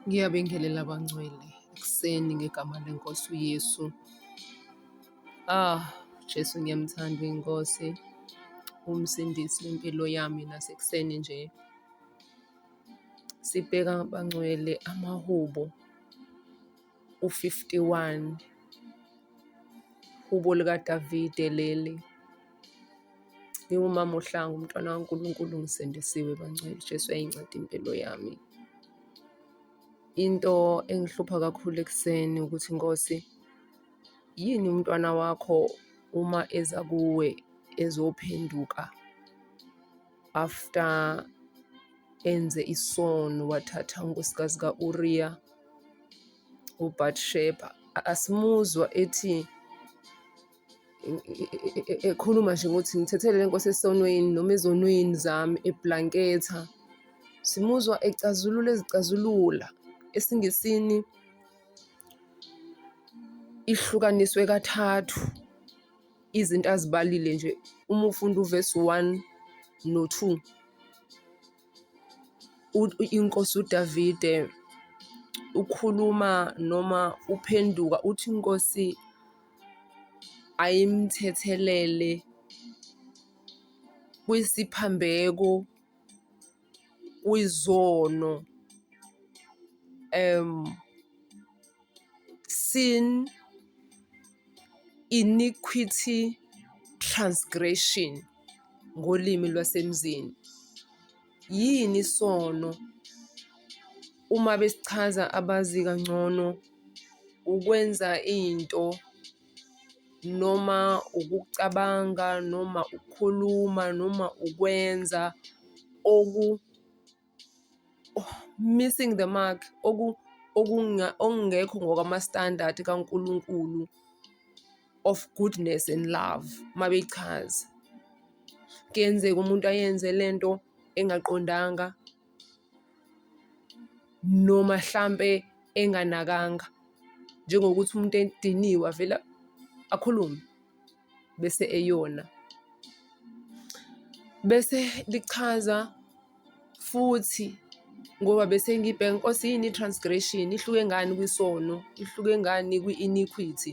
Ngiyabingelela bangcwele ekuseni ngegama lenkosi uYesu. Ah, Jesu ngiyamthanda inkosi, umsindisi wempilo yami nasekuseni nje. Sibheka bangcwele amahubo u-51, Hubo likaDavide leli. Ngiwumama ohlanga umntwana kaNkulunkulu ngisindisiwe bangcwele Jesu yayinceda impilo yami into engihlupha kakhulu ekuseni ukuthi Nkosi yini umntwana wakho uma eza kuwe ezophenduka after enze isono wathatha unkosikazi ka-uriya ubatsheba asimuzwa ethi ekhuluma nje ngokuthi ngithethelele inkosi esonweni noma ezonweni zami eblanketha simuzwa ecazulula ezicazulula esingisini ihlukaniswe kathathu izinto azibalile nje uma ufunda uvesi 1 no-2 inkosi uDavide ukhuluma noma uphenduka uthi inkosi ayimthethelele kwisiphambeko kwizono um sin iniquity transgression ngolimi lwasemzini yini isono uma besichaza abazi kangcono ukwenza into noma ukucabanga noma ukukhuluma noma ukwenza oku-missing the mark, okungekho ngokwama-standard kaNkulunkulu of goodness and love uma bechaza. Kuyenzeka umuntu ayenze le nto engaqondanga. noma hlampe enganakanga njengokuthi umuntu ediniwe avele akhulume bese eyona. Bese lichaza futhi ngoba bese ngibheka inkosi yini i-transgression ihluke ngani kwisono ihluke ngani kwi-iniquity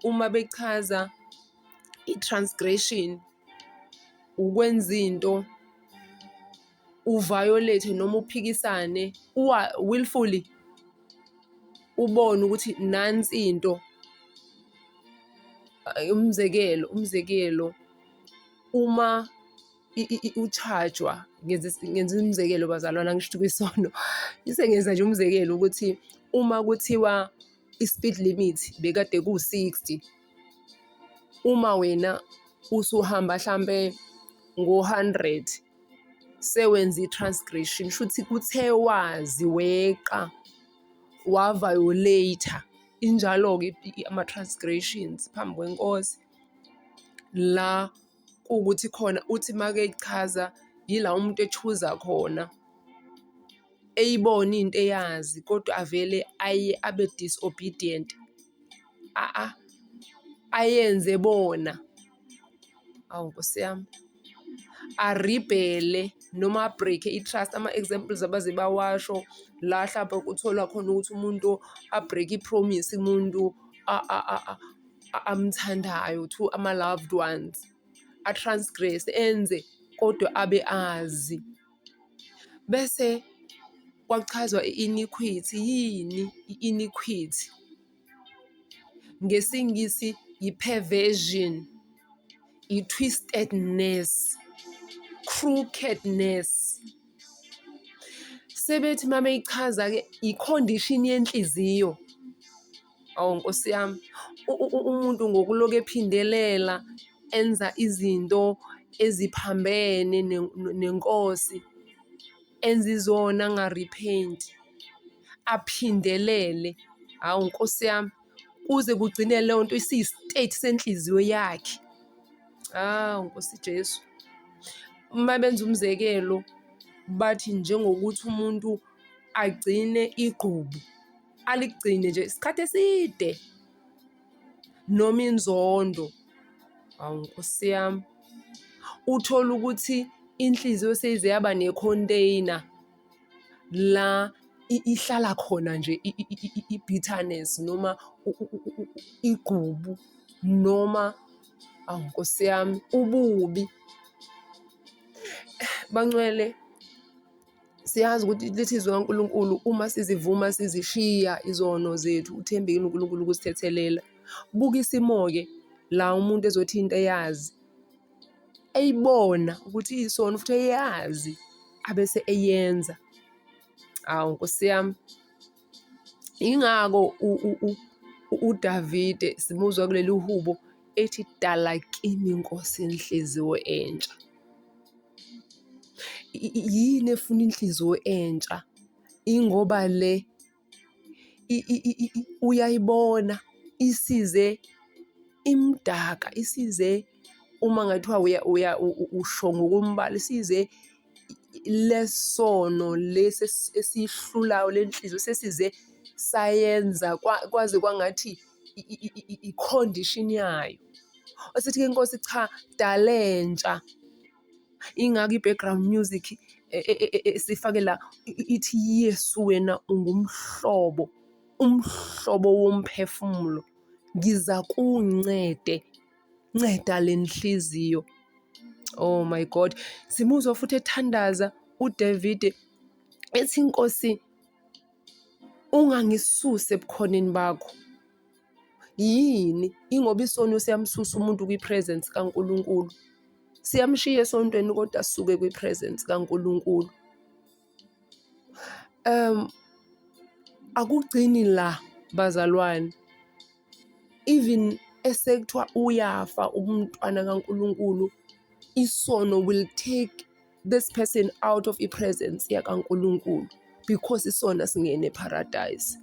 uma bechaza i-transgression ukwenza into u-violate-e noma uphikisane willfully ubone ukuthi nansi into umzekelo umzekelo uma uchajwa ngenza umzekelo bazalwana ngisho ukuthi kwisono isengenza nje umzekelo ukuthi uma kuthiwa i-speed limit bekade ku-sixty uma wena usuhamba hlampe ngo-hundred sewenza i-transgression shuthi kuthe wazi weqa wavayoleyitha injalo-ke ama-transgressions phambi kwenkosi la kuwukuthi khona uthi make echaza yila umuntu echuza khona eyibona into eyazi kodwa avele aye abe disobedient a ayenze bona awu nkosi yami aribhele noma abreak-e i-trust ama-examples abaze bawasho la hlampe kutholwa khona ukuthi umuntu abreak i-promise umuntu amthandayo to ama-loved ones a-transgress enze kodwa abe azi bese kwachazwa i-iniquity yini i-iniquity NgesiNgisi yi-perversion, yi-twistedness, crookedness. Sebethi uma beyichaza-ke i-condition yenhliziyo. Awu Nkosi yami, umuntu ngokuloku ephindelela enza izinto eziphambene nenkosi, enza izona angarephenti. aphindelele hawu nkosi yami kuze kugcine leyo nto isiyi-state senhliziyo yakhe hawu nkosi jesu uma benza umzekelo bathi njengokuthi umuntu agcine igqubu aligcine nje isikhathi eside noma inzondo hawu nkosi yami uthole ukuthi inhliziyo seyize yaba ne-container la ihlala khona nje i-bitterness noma igqubu noma awu nkosi yami ububi bancwele siyazi ukuthi lithi izwi kaNkulunkulu uma sizivuma sizishiya izono zethu uthembekile uNkulunkulu ukusithethelela buka isimo-ke la umuntu ezothi into eyazi eyibona ukuthi iyisona futhi eyazi abese eyenza hawu nkosi yami ingako uDavide simuzwa kuleli hubo ethi dala kimi inkosi inhliziyo entsha yini efuna inhliziyo entsha ingoba le uyayibona isize imdaka isize uma ngathiwa uya usho ngokombala isize lesono lesi esihlulayo lenhliziyo sesize sayenza kwaze kwangathi ikhondishini yayo. Asithi-ke inkosi cha dalentsha Ingakho i-background music esifake e, e, e, la ithi Yesu wena ungumhlobo umhlobo womphefumulo ngiza kuncede nceda le nhliziyo oh my god simuzwa futhi ethandaza uDavid ethi inkosi ungangisusi ebukhoneni bakho Yini? Ingoba isono siyamsusa umuntu kwi-presence kaNkulunkulu. Siyamshiya esontweni kodwa sisuke kwi-presence kaNkulunkulu. Um akugcini la bazalwane. Even esekuthiwa uyafa umntwana kaNkulunkulu, isono will take this person out of i-presence yakaNkulunkulu because isona singene paradise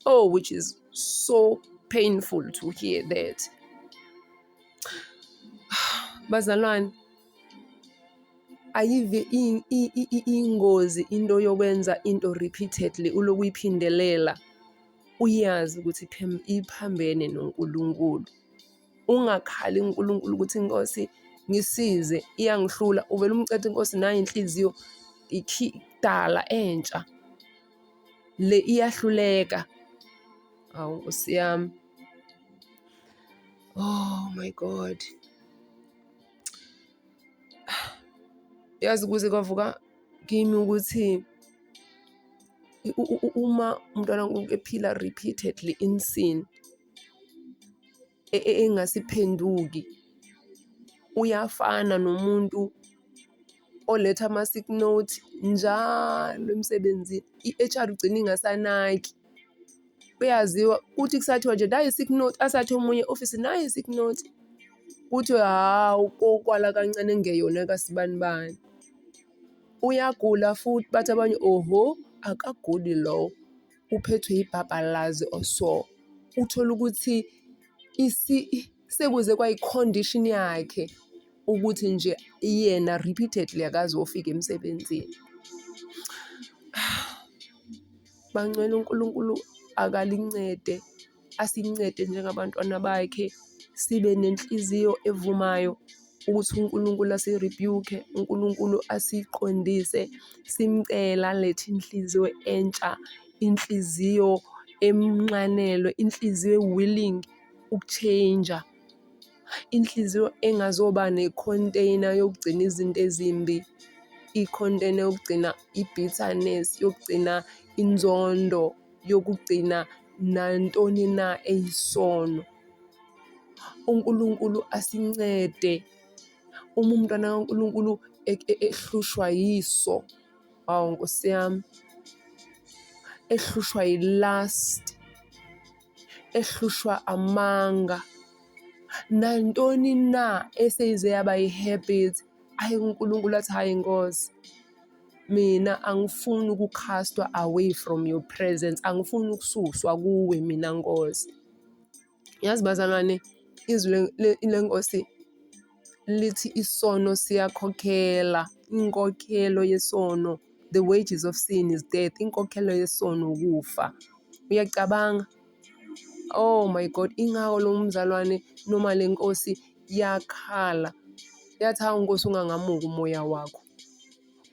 oh which is so painful to hear that bazalwane ayive ingozi into yokwenza into repeatedly uloku uyiphindelela uyazi ukuthi iphambene noNkulunkulu ungakhali uNkulunkulu ukuthi inkosi ngisize iyangihlula uvele umcethe inkosi nayo inhliziyo ikidala entsha le iyahluleka awu nkosi yami oh my god yazi kuze kwavuka kimi ukuthi uma umntwana ephila repeatedly in sin engasiphenduki uyafana nomuntu oletha ama-sick note njalo emsebenzini. I-H_R ugcine ingasanaki, kuyaziwa kuthi kusathiwa nje nayi i-sick note asathi omunye e-ofisini nayi i-sick note. Kuthiwe hhawu kokwala kancane kungeyona kasibani bani. Uyagula futhi bathi abanye ohho akaguli lowo. uphethwe yibhabhalazi or so uthole ukuthi sekuze kwayi-condition yakhe ukuthi nje yena repeatedly akaze ofika emsebenzini. Bangcwele uNkulunkulu akalincede. asincede njengabantwana bakhe sibe nenhliziyo evumayo ukuthi uNkulunkulu asiribuke, uNkulunkulu asiqondise, simcele alethe inhliziyo entsha, inhliziyo emnxanelwe, inhliziyo e-willing ukutshenja. Inhliziyo engazoba nekhonteyina yokugcina izinto ezimbi, ikhonteyina yokugcina i-bitterness, yokugcina inzondo, yokugcina nantoni na eyisono. UNkulunkulu asincede uma umntwana kaNkulunkulu e, e, ehlushwa yiso, hawu Nkosi yami, ehlushwa yi-lust. ehlushwa amanga nantoni na eseyize yaba yi-habit ayi uNkulunkulu athi hhayi nkosi mina angifuni ukukhastwa away from your presence angifuni ukususwa kuwe mina nkosi yazi bazalwane izwi lenkosi lithi isono siyakhokhela inkokhelo yesono the wages of sin is death inkokhelo yesono ukufa uyacabanga oh my god ingako lo mzalwane noma le nkosi yakhala yathi hawu nkosi ungangamuki umoya wakho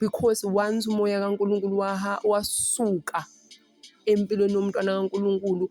because once umoya kaNkulunkulu waha wasuka empilweni yomntwana kaNkulunkulu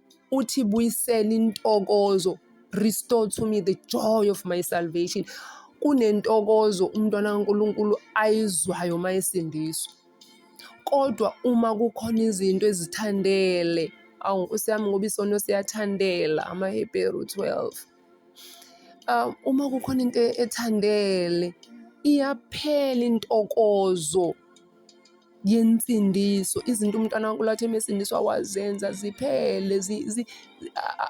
uthi buyisela intokozo restore to me the joy of my salvation kunentokozo umntwana kaNkulunkulu ayizwayo uma esindiswa kodwa uma kukhona izinto ezithandele awu nkosi yami ngoba isono siyathandela amaHebheru 12 um uma kukhona into ethandele iyaphela intokozo yensindiso izinto umntwana wankulathi emesindiswa wazenza ziphele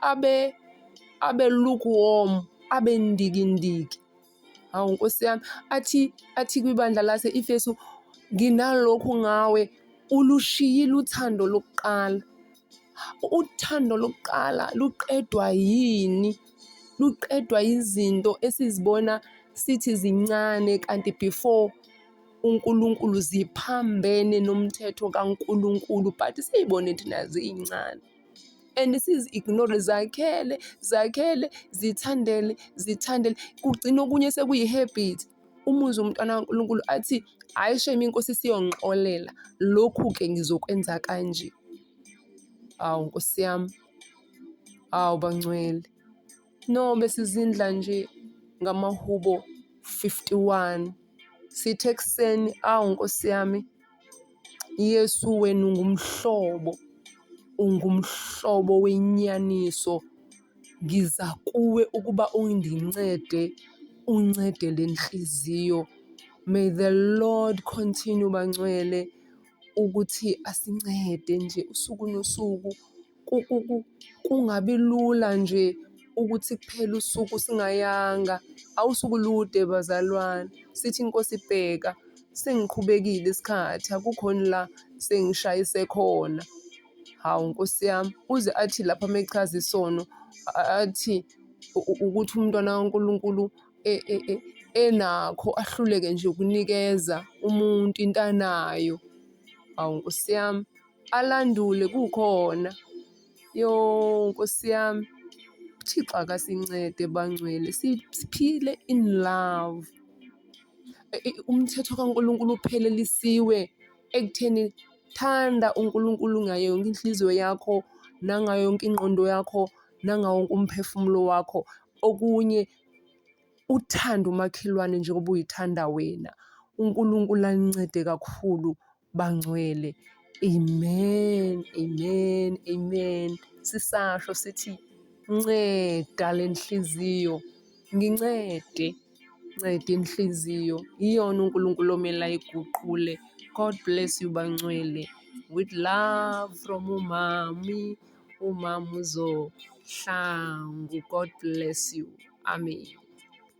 abe abe lukewarm abe ndikindiki hawu nkosi yami athi athi kwibandla lase ifesu nginalokhu ngawe ulushiyile uthando lokuqala uthando lokuqala luqedwa yini luqedwa izinto esizibona sithi zincane kanti before uNkulunkulu ziphambene nomthetho kaNkulunkulu but siyibone thina ziyincane and sizi-ignore zakhele zakhele zithandele zithandele kugcina okunye sekuyi-habit umuzi umntwana kaNkulunkulu athi hhayi shame inkosi siyongixolela lokhu-ke ngizokwenza kanje hawu nkosi yami hawu bangcwele No besizindla nje ngamahubo 51 sithe ekuseni awu nkosi yami Yesu wenu ngumhlobo ungumhlobo wenyaniso ngiza kuwe ukuba ungincede uncede le nhliziyo may the lord continue bangcwele ukuthi asincede nje usuku nosuku kungabi lula nje ukuthi kuphele usuku singayanga. Awusuke ulude bazalwane sithi inkosi ibheka sengiqhubekile isikhathi akukhoni la sengishayise khona. Hawu nkosi yami uze athi lapha uma echaza isono athi ukuthi umntwana kaNkulunkulu enakho ahluleke nje ukunikeza umuntu into anayo. Hawu nkosi yami. alandule kukhona. Yoh Nkosi yami, uThixo akasincede bangcwele siphile in love. Umthetho kaNkulunkulu uphelelisiwe ekutheni thanda uNkulunkulu ngayo yonke inhliziyo yakho, nangayo yonke ingqondo yakho, nangawo wonke umphefumulo wakho. Okunye uthande umakhelwane njengoba uyithanda wena. UNkulunkulu anincede kakhulu bangcwele. Amen, amen, amen. Sisasho sithi nceda le nhliziyo, ngincede, nceda inhliziyo. Iyona uNkulunkulu omele ayiguqule. God bless you bangcwele. With love from umami, umama uzohlangu. God bless you. Amen.